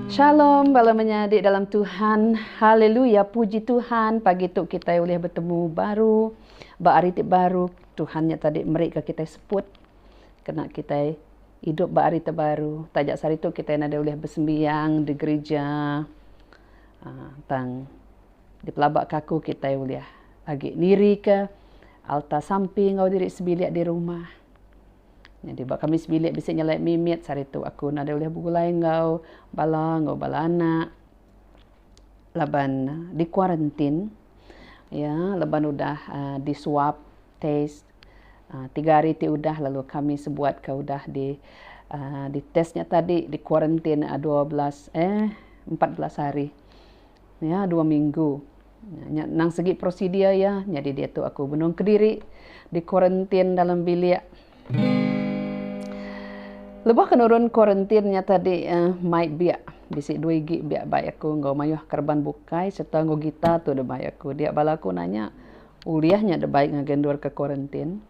Shalom bala menyadi dalam Tuhan, haleluya puji Tuhan pagi tu kitai ulih betemu baru ba hari ti baru Tuhan nya tadi meri ka kitai seput kena kitai idup ba hari ti baru taja saritu kitai nadai ulih besembiang di gerija aaa tang di pelaba kaku kitai ulih agi nirika alta sampi enggau diri sebilik di rumah. Nyadi ba kami sebilik bisi nyelai mimit saritu aku nadai ulih begulai enggau bala enggau bala anak laban di kuarantin iya laban udah di swab test tiga hari ti udah lalu kami sebuat ka udah di test nya tadi di kuarantin dua belas eh empat belas hari. Iya dua minggu. Nya nang segi prosedur iya. Nyadi diatu aku benung kediri di kuarantin dalam bilik. Lebuh ke nurun kuarantin nya tadi mai biak. Bisi dua igi biak bai aku enggau mayuh kereban bukai serta enggau gitar tu da bai aku. Dia bala aku nanya, Ulih nya da bai ngagai endurka kuarantin?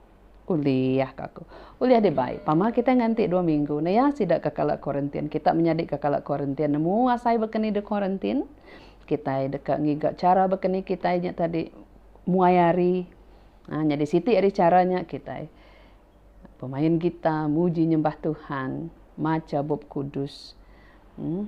Ulih ka aku. Ulih deh bai. Pama kitai nganti dua minggu naya sida ka kala kuarantin. Kita menyadi ka kala kuarantin nemu asai baka ni deh kuarantin. Kitai deka ngiga chara baka ni kitai nya tadi muai hari. Nah nyadi siti ari chara nya kitai pemain gitar, muji nyembah Tuhan, macha bup kudus. Em.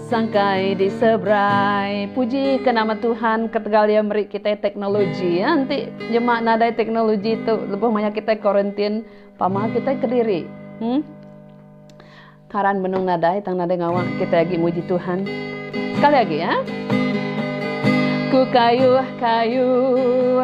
Sangkai di seberai. Puji ke nama Tuhan ketegal iya meri kitai teknologi. Ya enti jema nadai teknologi tu lebuh maya kitai quarantine pama kitai kediri. Hmm. Karan benung nadai tang nadai ngawa kitai agi muji Tuhan. Sekali agi ya. Ku kayuh-kayuh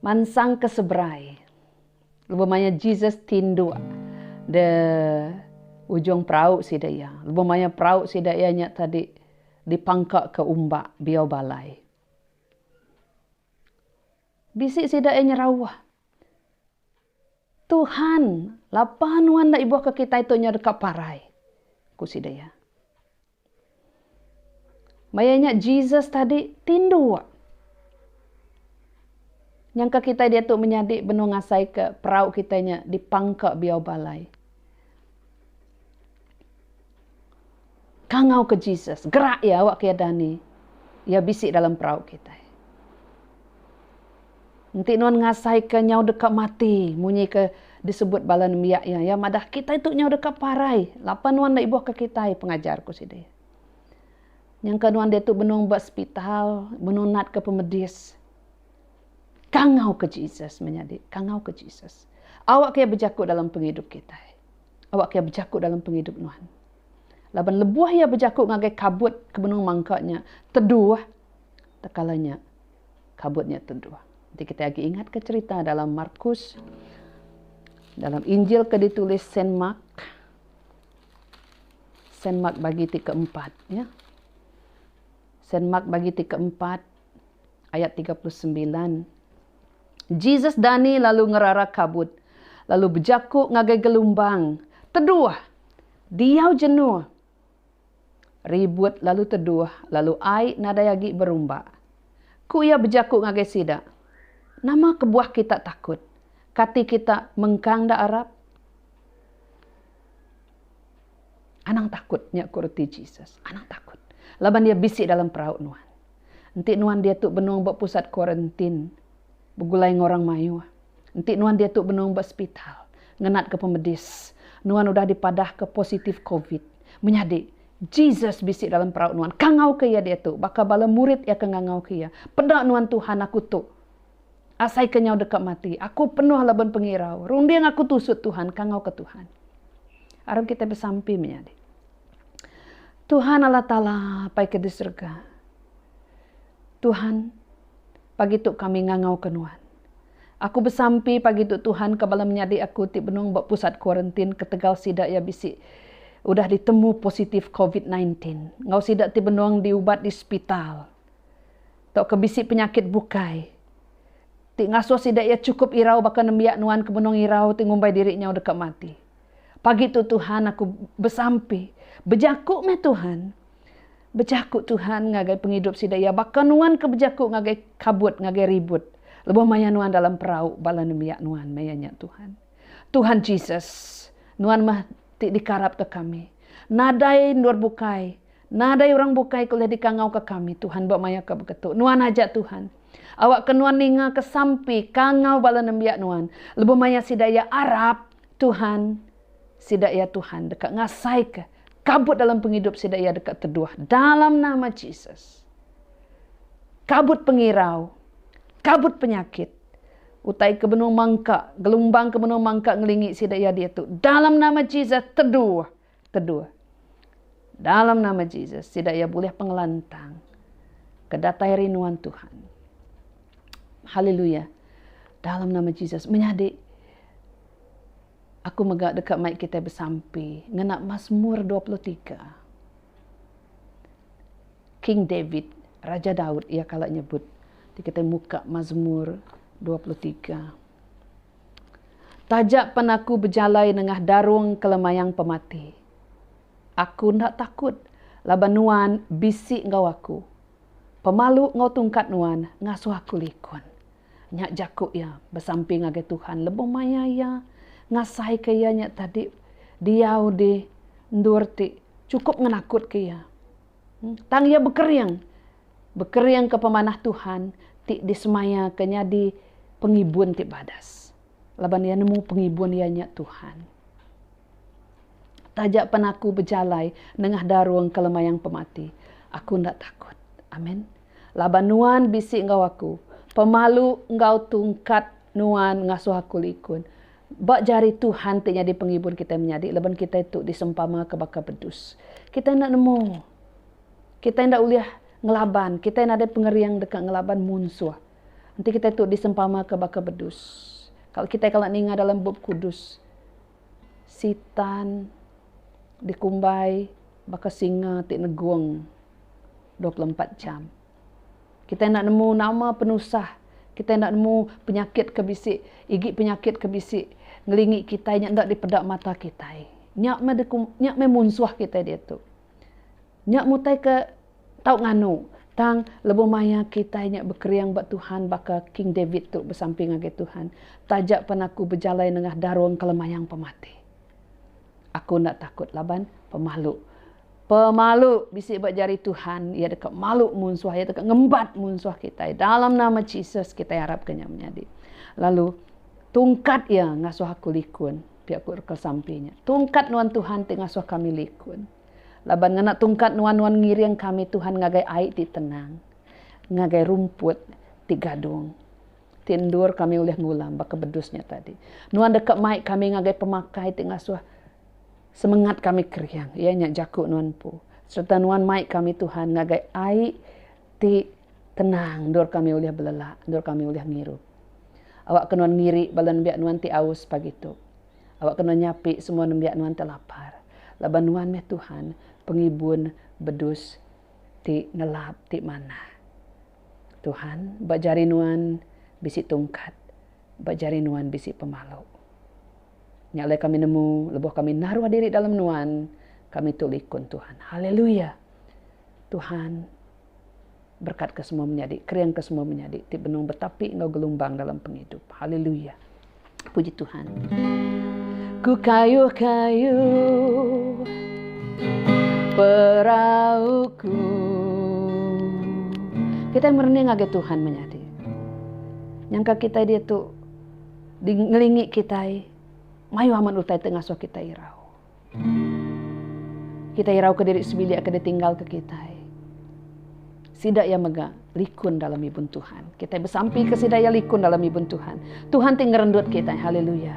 Mansang ke seberai, lebuh maya Jesus ti endu de ujung perau sida iya. Lebuh maya perau sida iya nya tadi dipangkaka umba biau balai. Bisi sida iya nyerauh. Tuhan, lapa Nuan enda ibuhka kitai tu nyau deka parai? ku sida iya. Maya nya Jesus tadi tindu wa. Nyangka kitai diatu menyadi benung ngasaika perau kitai nya dipangka biau balai. Kangau ke Jesus, gerak iya awak ke iya dani. Iya bisi dalam perau kitai. Enti nuan ngasai ke nyau deka mati munyi ke disebut bala nembiak iya, iya madah kitai tu nyau deka parai lapan nuan enda ibuh ke kitai pengajar ku sida iya. Nyangka nuan diatu benung ba sepital, benung nat ke pemedis. Kangauka Jesus menyadi. Kangauka Jesus. Awakka Iya bejaku dalam pengidup kitai. Awakka Iya bejaku dalam pengidup nuan. Laban lebuh Iya bejaku ngagai kabut ke benung mangka nya teduh, tekala nya kabut nya teduh. Enti kitai agi ingatka cherita dalam Markus, dalam Injil ke ditulis Saint Mark, Saint Mark bagi ti keempat. Ya. Saint Mark bagi ti keempat, ayat tiga puluh sembilan. Jesus dani lalu ngerara kabut, lalu bejaku ngagai gelumbang, Teduh! Diau jenuh! Ribut lalu teduh, lalu ai nadai agi berumba. Ku iya bejaku ngagai sida, Nama kebuah kita takut? Kati kita mengkang enda arap? Anang takut, nya ku reti Jesus. Anang takut. Laban iya bisi dalam perau nuan. Enti nuan diatu benung ba pusat kuarantin begulai enggau orang mayuh, enti nuan diatu benung ba sepital ngenatka pemedis, nuan udah dipadahka positif covid. Menyadi, Jesus bisi dalam perau nuan. Kangauka iya diatu. Baka bala murid iya ke ngangauka iya, Peda nuan Tuhan, aku tu. Asai kenyau deka mati, aku penuh laban pengirau. Runding aku tusut Tuhan, kangauka Tuhan. Aram kitai besampi menyadi. Tuhan Allah Taala pai ke di serega. Tuhan, pagi tu kami ngangauka Nuan. Aku besampi pagi tu Tuhan ke bala menyadi aku ti benung ba pusat kuarentin ketegal sida iya bisi udah ditemu positif covid nineteen enggau sida ti benung diubat di sepital. Tauka bisi penyakit bukai ti ngasuh sida iya chukup irau baka nembiak nuan ke benung irau ti ngumbai diri nyau deka mati. Pagi tu Tuhan aku besampi, bejaku meh Tuhan. Bejaku Tuhan ngagai pengidup sida iya baka nuan ke bejaku ngagai kabut ngagai ribut lebuh maya nuan dalam perau bala nembiak nuan maya nya Tuhan. Tuhan Jesus, nuan meh ti dikarapka kami. Nadai endur bukai. Nadai orang bukai ke ulih dikangauka kami, Tuhan ba maya ke beketu. Nuan aja, Tuhan. Awakka Nuan ningaka sampi kangau bala nembiak Nuan. Lebuh maya sida iya arap, Tuhan, sida iya, Tuhan, deka ngasaika kabut dalam pengidup sida iya deka teduh. Dalam nama Jesus. Kabut pengirau. Kabut penyakit. Utai ke benung mangka, gelumbang ke benung mangka ngelingi sida iya diatu. Dalam nama Jesus, teduh. Kedua, dalam nama Jesus, sida iya bulih pengelantang ke datai ari nuan Tuhan. Haleluya. Dalam nama Jesus menyadi aku mega deka mai kita besampi ngena Mazmur 23. King David, Raja Daud iya kala nyebut. Ti kita muka Mazmur 23. Taja pen aku bejalai nengah darung ke lemayang pemati, aku enda takut laban Nuan bisi enggau aku. Pemalu enggau tungkat Nuan ngasuh aku likun. Nya jaku iya besampi ngagai Tuhan lebuh maya iya ngasaika iya nya tadi diau di endur ti chukup ngenakutka iya. Tang iya bekering bekeringka pemanah Tuhan ti disemayaka nyadi pengibun ti badas, laban iya nemu pengibun iya nya Tuhan. Taja pan aku bejalai nengah darung ke lemayang pemati, aku enda takut. Amin. Laban Nuan bisi enggau aku, pemalu enggau tungkat Nuan ngasuh aku likun. Ba jari Tuhan ti nyadi pengibun kitai menyadi laban kitai tu disempamaka baka bedus. Kitai enda nemu. Kitai enda ulih ngelaban, kitai nadai pengering deka ngelaban munsuh. Enti kitai tu disempamaka baka bedus. Kala kitai kala ninga dalam Bup Kudus, Sitan dikumbai baka singa ti negung dua puluh empat jam. Kitai enda nemu nama penusah, kitai enda nemu penyakit ke bisi, igi penyakit ke bisi ngelingi kitai nya enda dipeda mata kitai. Nya meh dikum, nya meh munsuh kitai diatu. Nya mutai ke tau nganu. Tang lebuh maya kitai nya bekeriang ba Tuhan baka King David tu besampi ngagai Tuhan, Taja pan aku bejalai nengah darung kelemayang pemati, aku enda takut laban pemalu. Pemalu bisi ba jari Tuhan, Iya deka malu munsuh, Iya deka ngembat munsuh kitai. Dalam nama Jesus kitai arapka nya menyadi. Lalu tungkat Iya ngasuh aku likun. Pia ku reka sampi nya. Tungkat nuan Tuhan ti ngasuh kami likun. Laban ngena tungkat nuan nuan ngiring kami Tuhan ngagai ai ti tenang, ngagai rumput ti gadung. Ti endur kami ulih ngulam baka bedus nya tadi. Nuan deka mai kami ngagai pemakai ti ngasuh semengat kami kering, iya nya jaku nuan empu. Sereta nuan mai kami Tuhan ngagai ai ti tenang endur kami ulih belela, endur kami ulih ngirup. Awakka nuan ngiri bala nembiak nuan ti aus pagi tu. Awakka nuan nyapi semua nembiak nuan ti lapar, laban nuan meh Tuhan, Pengibun bedus ti ngelap ti manah. Tuhan, ba jari nuan bisi tungkat, ba jari nuan bisi pemalu. Nya alai kami nemu, lebuh kami naruh diri dalam Nuan, kami tu likun Tuhan. Haleluya! Tuhan berkatka semua menyadi, keringka semua menyadi ti benung betapi enggau gelumbang dalam pengidup. Haleluya! Puji Tuhan. Ku kayuh-kayuh perauku. Kita merening ngagai Tuhan menyadi. Nyangka kita dia tu Di ngelingi kitai, mayuh amat utai ti ngasuh kitai irau. Kitai irauka diri sebilik ke ditinggalka kitai. Sida iya mega likun dalam ibun Tuhan. Kitai besampika sida iya likun dalam ibun Tuhan. Tuhan ti ngerendut kitai. Haleluya!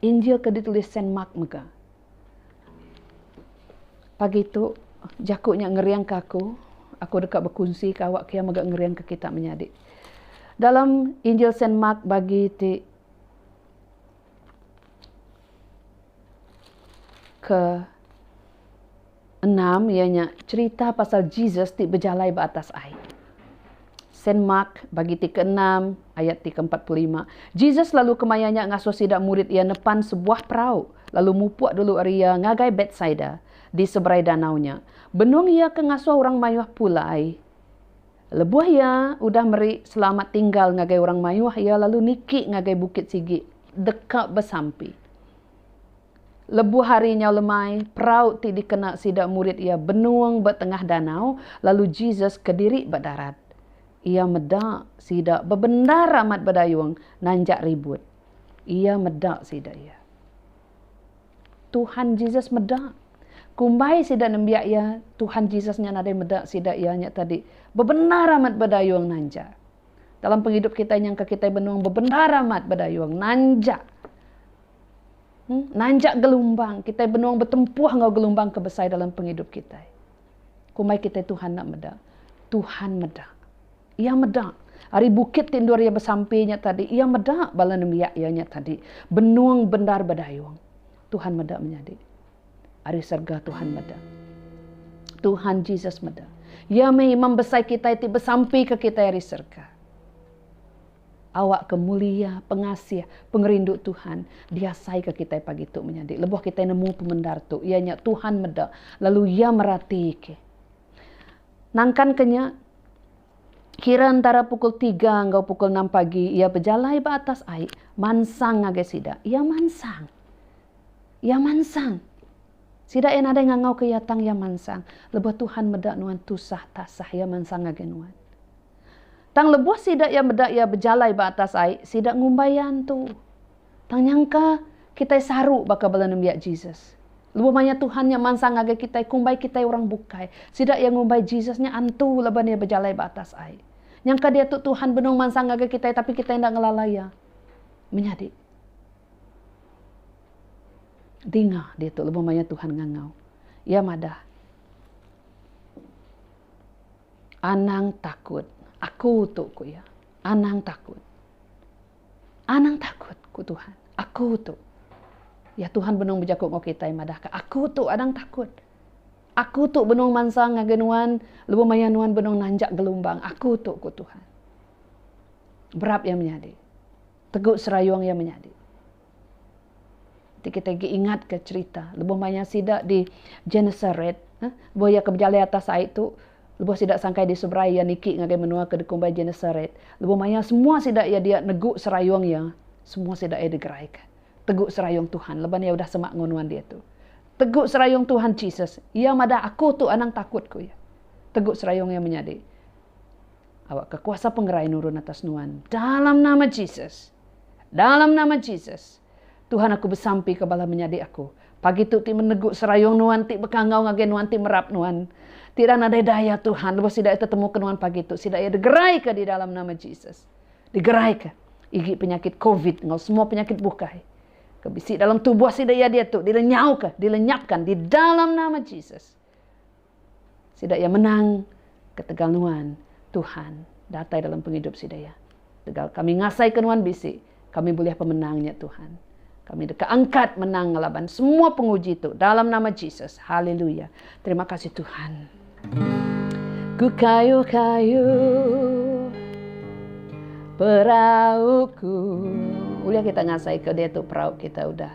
Injil ke ditulis Saint Mark mega. Pagi tu, jaku nya ngeringka aku. Aku deka bekunsika awak kia mega ngeringka kita menyadi. Dalam Injil Saint Mark bagi ti ke. Enam iya nya cherita pasal Jesus ti bejalai ba atas ai. Saint Mark bagi ti keenam ayat ti keempat puluh lima. Jesus lalu kemaya nya ngasuh sida murid iya nepan sebuah perau lalu mupuk dulu ari iya ngagai Betsaida di seberai danau nya. Benung iya ke ngasuh orang mayuh pulai. Lebuh iya udah meri selamat tinggal ngagai orang mayuh iya lalu niki ngagai bukit sigi deka besampi. Lebuh hari nyau lemai, perau ti dikena sida murid iya benung ba tengah danau, lalu Jesus kediri ba darat. Iya meda sida bebendar amat bedayung nanjak ribut. Iya meda sida iya. Tuhan Jesus meda. Kumbai sida nembiak iya, Tuhan Jesus nya nadai meda sida iya nya tadi bebendar amat bedayung nanjak. Dalam pengidup kitai nyangka kitai benung bebendar amat bedayung nanjak. Nanjak gelumbang, kitai benung betempuh enggau gelumbang ke besai dalam pengidup kitai. Kumbai kitai Tuhan enda meda. Tuhan meda. Iya meda. Ari bukit ti endur iya besampi nya tadi, iya meda bala nembiak iya nya tadi benung bendar bedayung. Tuhan meda menyadi. Ari serega Tuhan meda. Tuhan Jesus meda. Iya meh Imam Besai kitai ti besampika kitai ari serega. Awakka mulia, pengasih, pengerindu Tuhan diasaika kitai pagi tu menyadi. Lebuh kitai nemu pemendar tu, iya nya Tuhan meda lalu Iya meratika. Nangkanka nya, kira entara pukul tiga enggau pukul enam pagi, Iya bejalai ba atas ai, mansang ngagai sida. Iya mansang. Iya mansang. Sida iya nadai ngangauka Iya tang Iya mansang. Lebuh Tuhan meda nuan tusah tasah, Iya mansang ngagai nuan. Tang lebuh sida iya meda iya bejalai ba atas ai, sida ngumbai iya antu. Tang nyangka kitai saru baka bala nembiak Jesus. Lebuh maya Tuhan nya mansang ngagai kitai kumbai kitai orang bukai, sida iya ngumbai Jesus nya antu laban iya bejalai ba atas ai. Nyangka diatu Tuhan benung mansang ngagai kitai tapi kitai enda ngelala iya. Menyadi dinga diatu lebuh maya Tuhan ngangau. Iya madah. Anang takut. Aku tu, ku iya. Anang takut. Anang takut, ku Tuhan. Aku tu. Ya, Tuhan benung bejaku enggau kitai madahka, Aku tu anang takut. Aku tu benung mansang ngagai nuan lebuh maya nuan benung nanjak gelumbang. Aku tu, ku Tuhan. Berap iya menyadi. Tegu serayung iya menyadi. Ti kita agi ingat ka cerita lebuh maya sida di Genesaret lebuh iya ke bejalai atas ai tu lebuh sida sangkai di seberai iya niki ngagai menua ke dikumbai Genesaret lebuh maya semua sida iya dia negu serayung iya semua sida iya digerai ka tegu serayung Tuhan laban iya udah semak enggau nuan diatu. Tegu serayung Tuhan Jesus iya madah aku tu anang takut ku iya. Tegu serayung iya menyadi awakka kuasa pengerai nurun atas nuan dalam nama Jesus. Dalam nama Jesus, Tuhan aku besampika bala menyadi aku pagi tu ti menegu serayung nuan ti bekangau ngagai nuan ti merap nuan. Ti enda nadai daya Tuhan lebuh sida iya tetemuka nuan pagi tu sida iya digeraika di dalam nama Jesus. Digeraika igi penyakit covid enggau semua penyakit bukai ke bisi dalam tubuh sida iya diatu dilenyauka dilenyapkan di dalam nama Jesus. Sida iya menang ketegal nuan, Tuhan, datai dalam pengidup sida iya. Tegal kami ngasaika nuan bisi, kami bulih pemenang nya Tuhan. Kami deka angkat menang ngelaban semua penguji tu dalam nama Jesus. Haleluya. Terima kasih Tuhan. Ku kayu-kayu perauku. Ulih kita ngasaika dia tu perau kita udah.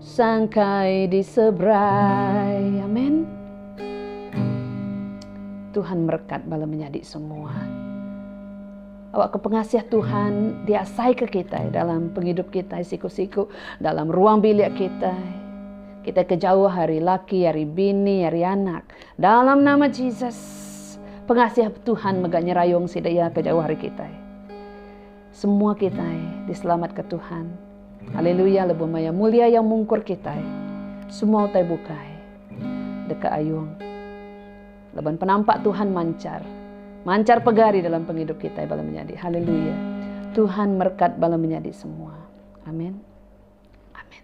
Sangkai di seberai. Amen. Tuhan merekat bala menyadi semua. Awak ke pengasih Tuhan diasai ke kita dalam penghidup kita siku-siku dalam ruang bilik kita. Kita kejauh hari laki, hari bini, hari anak. Dalam nama Jesus, pengasih Tuhan mega nyerayung sida iya kejauh hari kita. Semua kitai diselamatka Tuhan. Haleluya lebuh maya mulia Iya mungkur kitai semua utai bukai deka ayung laban penampak Tuhan manchar manchar pegari dalam pengidup kitai bala menyadi. Haleluya. Tuhan merkat bala menyadi semua. Amen. Amen.